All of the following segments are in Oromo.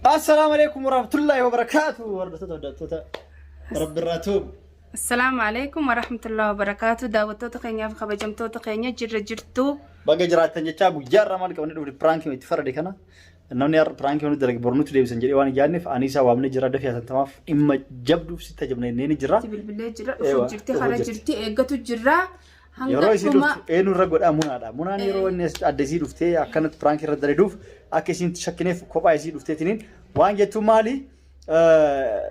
Assalaamu alaikum warahmatullahi wabarakaatu. Hordoftoota hordoftoota Rabbirraa tuub. Assalaamu alaikum warahmatullahi wabarakaatu. Daawwattoota keenyaaf kabajamtoota keenya jirra jirtu. Baga jiraattan jechaa guyyaa irraa maal qabannee dhufne piraankii itti farade kana. Namni har'a piraankii hunda dalage bornutti deebisan jedhee waan yaadneef ani isaa waamnee jira dafee haasantamaaf dhimma jabduuf si tajabnee ni jira. Itti bilbilee jira, Eewa, dhufu jirti, dhufu kara jirti. jirti, eeggatu jirra. Hanga Yeroo isii dhuma- dhuftu eenyu irra godhaa munaadha. Munaan Eh. yeroo inni as- adda isii dhuftee akkanatti piraanki irra daladuuf akka isiin shakkineef kophaa isii dhufteetiniin waan jettu maali eh,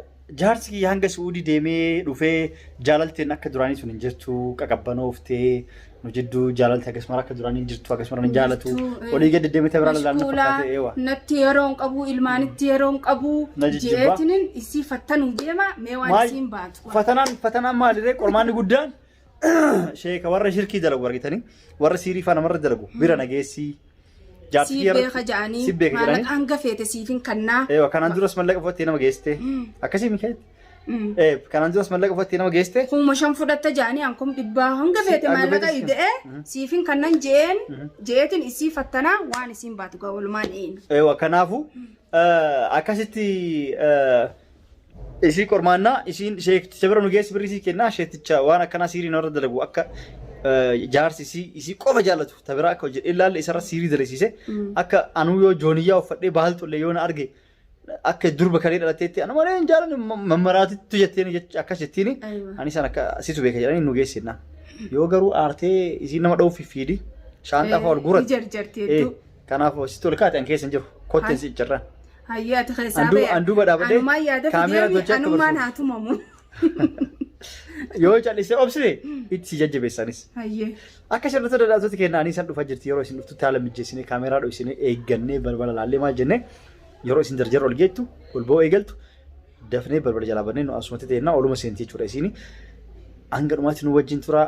jaarsi kiyya hanga su'uudii deemee dhufee jaalalteen akka duraanii sun hin jirtu qaqabbanooftee nu jidduu jaalalti akkasumara akka duraanii hin jirtu akkasumara hin jaalatu Hin jirtu, eh. olii gadi deemtee biraa lalaalna Mashquulaa, fakkaatee eewa. natti yeroo hin qabu ilmaanitti yeroo hin qabu Na jijjibbaa. jeetinin isii fattanuu deema mee waan Maal- isiin baatu Fatanaan fatanaan maaliree qormaanni guddaan Sheeka warra shirkii dalagu argitanii warra siirii faa namarra dalagu bira nageessii. Jaartii Siif beeka ja'anii Siif beeka jedhanii. maallaqa hanga feete siif hin kannaa. Eewa kanaan duras mallaqa fudhattee nama geessite. Akkasii mikeetti. Mm. Ee kanaan duras mallaqa fudhattee nama geessite. Kuma shan fudhatta ja'anii ankum dhibbaa hanga Si- feete hanga maallaqa feete si- ida'ee Mhm. siif hin kannan je'een Mhm. je'eetiin isii fattanaa waan isiin baatu gaa walumaan eeynu. Eewa kanaafuu akkasitti Isii qormaannaa isiin sheekti isa bira nu geessi birrii sii kennaa sheekticha waan akkanaa siirii narra dalagu akka jaarsi isii isii qofa jaallatu ta biraa akka hojjedhe ilaalle isarra siirii dalagsiise akka anuu yoo jooniyyaa uffadhee baaltullee yoo na arge akka durba kalee dhalatteetti anu malee hin jaalanne mammaraatittu jetteen jecha akkas jettiin ani isaan akka situ beeka jedhanii nu geessi jennaan yoo garuu aartee isiin nama dha'uuf fiidi shaanxaa fa'aa ol guurratti. Jarjarti hedduu. Kanaaf sitti ol kaate an keessa hin jiru. Kotteen Hay. si iccirra. Hayyee ati keessaa Anduu- ba'e. anduuba dhaabadhee Anumaan yaadatti kaameeraa deemi, tolchee akka anumaan barsiisu. haa tumamu. Yoo callisee obsite itti si jajjabeessanis. Hayyee. Akka sirriitti daldaltoota keenya ani isan dhufa jirti yeroo isin dhuftutti haala mijeessinee kaameeraa dho'isinee eeggannee balbala laallee maal jennee yeroo isin jarjarra ol geettu ol ba'uu eegaltu dafnee balbala jalaa bannee nu asumatti ta'ennaa oluma seentii jechuudha isiin hanga dhumaatti nu wajjin turaa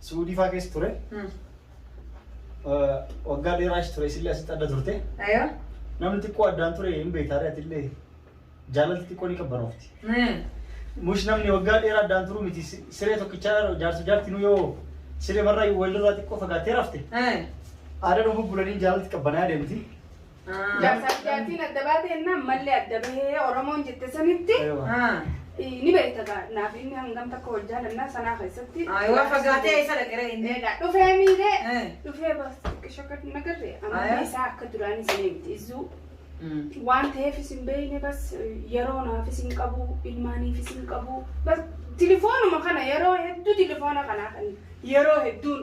Suudii faa keessa ture. Hmm. Eh, Waggaa dheeraa achi ture isillee asitti adda turte. Ayaa. Namni xiqqoo addaan ture hin beektaare atillee jaalalti xiqqoo ni qabbanoofti. Hmm. Mush namni waggaa dheeraa addaan turu miti si- siree tokkichaa jaarsa jaarti nu yoo siree marraa walirraa xiqqoo fagaatee rafte. Hmm. Aadaa dhufu bulanii jaalalti qabbanaa deemti. Jaarsaa fi jaartiin adda baatee ennaan mallee adda bahee Oromoon jette sanitti eh, ni beekta gaa naaf inni hangam takka wal jaalannaa sanaa keessatti. Aywa fagaatee eessa dhaqeera inni? Egaa dhufee miidhee Eh. dhufee bakka akka nagarre Aywa. amantii isaa akka duraanii sanii miti izzuu waan ta'eef isin beeyne bas yeroo naaf isin qabu ilmaaniif isin qabu bas tilifoonuma kana yeroo hedduu tilifoona kanaa kan yeroo hedduun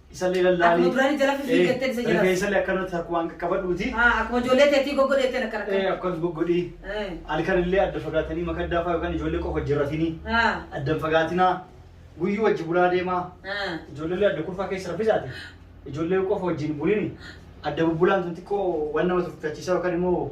Isallee Akkuma lallaanii. duraanii jala fifii jettee isa jala. Rifeensa illee akkanatti akkuma hanga qabadhuuti. Ah, Akkuma ijoollee teetii goggodhee ittiin akka rakkatu. Akkas goggodhi. Eh. Halkan illee adda fagaatanii makaddaa fa'aa yookaan ijoollee qofa jirratini. Ah, Addan fagaatinaa. Guyyuu wajji bulaa deemaa. ah. Ijoollee illee adda kurfaa keessa raffisaati. Ijoollee qofa wajjin bulini. Adda bubbulaan sun xiqqoo waan nama tuffachiisaa yookaan immoo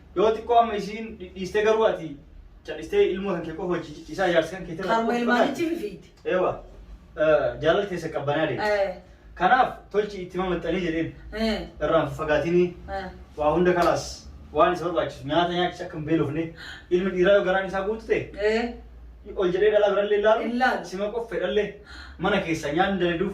Yoo xiqqoo amma isiin dhidhiistee garuu ati cadhistee ilmoo kan kee qofa hojii ciccisaa ijaarsa kan keetirra. Karuma ilmaanichi fifiiti. Eewa jaalala keessa qabbanaa deemti. Kanaaf tolchi itti mamaxxanii jedheen irraan fagaatinii waa hunda kalaas waan isa barbaachisu nyaata nyaachis akka hin beelofne ilmi dhiiraa yoo garaan isaa guutu ta'e ol jedhee dhalaa birallee ilaalu sima qoffe dhallee mana keessa nyaanni daladuuf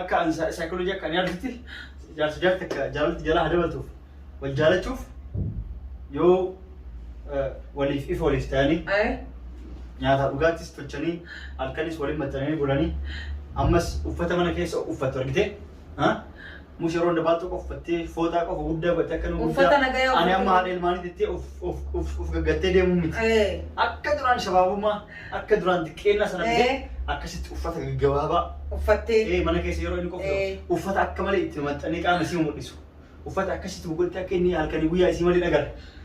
akka an saayikooloojii akka ani argitti jaarsi jaarti akka jaalalatti jalaa dabaltuuf wal jaalachuuf yoo waliif ifa waliif ta'anii nyaataa dhugaattis tolchanii halkanis waliin maxxananii bulanii ammas uffata mana keessa uffatu argite musharoon dabaa tokko uffattee fooxaa qofa guddaa godhattee akka nu Uffata guddaa nagaya ani amma uffattee. haadha ilmaanii jettee of of of of gaggattee deemuu miti. Ee. Akka duraan shabaabummaa akka duraan xiqqeennaa sana Ee. fidee akkasitti uffata gaggabaabaa Uffattee. ee mana keessa yeroo inni Ee. qophaa'u uffata akka malee itti maxxanee qaama isii mul'isu. Uffata akkasitti gugguutti akka inni halkanii guyyaa isii malee dhagara.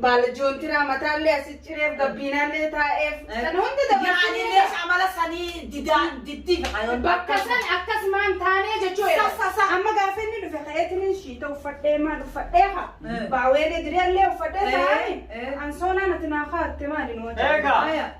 Baala joontiraa mataallee asi cireef gabbiinaallee taa'eef san hunda Yaanilee dabarsinee amala sanii didaan diddii fi kayoon. bakka san akkasumaan taanee jechuu Sa- sa- sa- amma gaafa inni dhufe ka'eetiniin shiita uffadhee maal uffadhee haa Eh. baaweelee diriyallee uffadhee Eh, taa'ani eh. ansoonaa nati naa kaatte maali nu wajjin. Eegaa. Aya.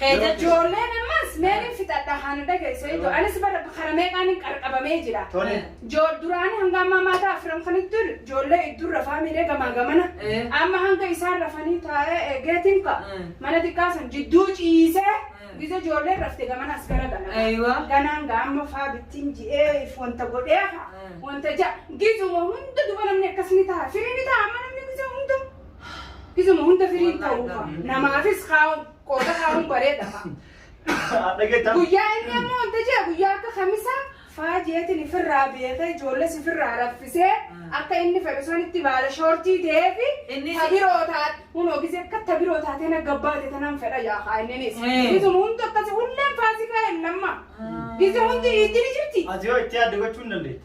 Keenya ijoolleen ammas meelin fixadha haana dhagaye sayido anis bara kara meeqaanin qarqabamee jira duraanii hanga ammaa maataa afran kanittu ijoollee idduun rafaa miidhee gamaa gamana amma hanga isaan rafanii taa'ee eegeetiin ka mana xiqqaa san jidduu ciisee gisa ijoolleen rafte gamana as gara gala ganaan ga amma faa bittiin ji'ee if wanta godhee ha wanta ja gizuma hunda duba namni akkas ni ta'a firii ni ta'a amma namni gisa hunda gizuma hunda firii ta'uufa namaafis kaa'u Qooda haaruu bareeda fa'a. Dhageettaa. Guyyaa inni ammoo wanta jee guyyaa akka kamisaa faa jeetiin ifirraa beekee ijoollees ifirraa raffisee akka inni fedhu sanitti baala shoortii ta'eefi Innis- tabiroo taate hunoo gisee akka tabiroo taatee na gabbaate tanan fedha yaakaa inninis. Mm. Gizuma hundi akkasi hulleen faasikaa hin lamma. Gizi hundi iddini jirti. Ati yoo itti yaadde gochuu hin dandeettu.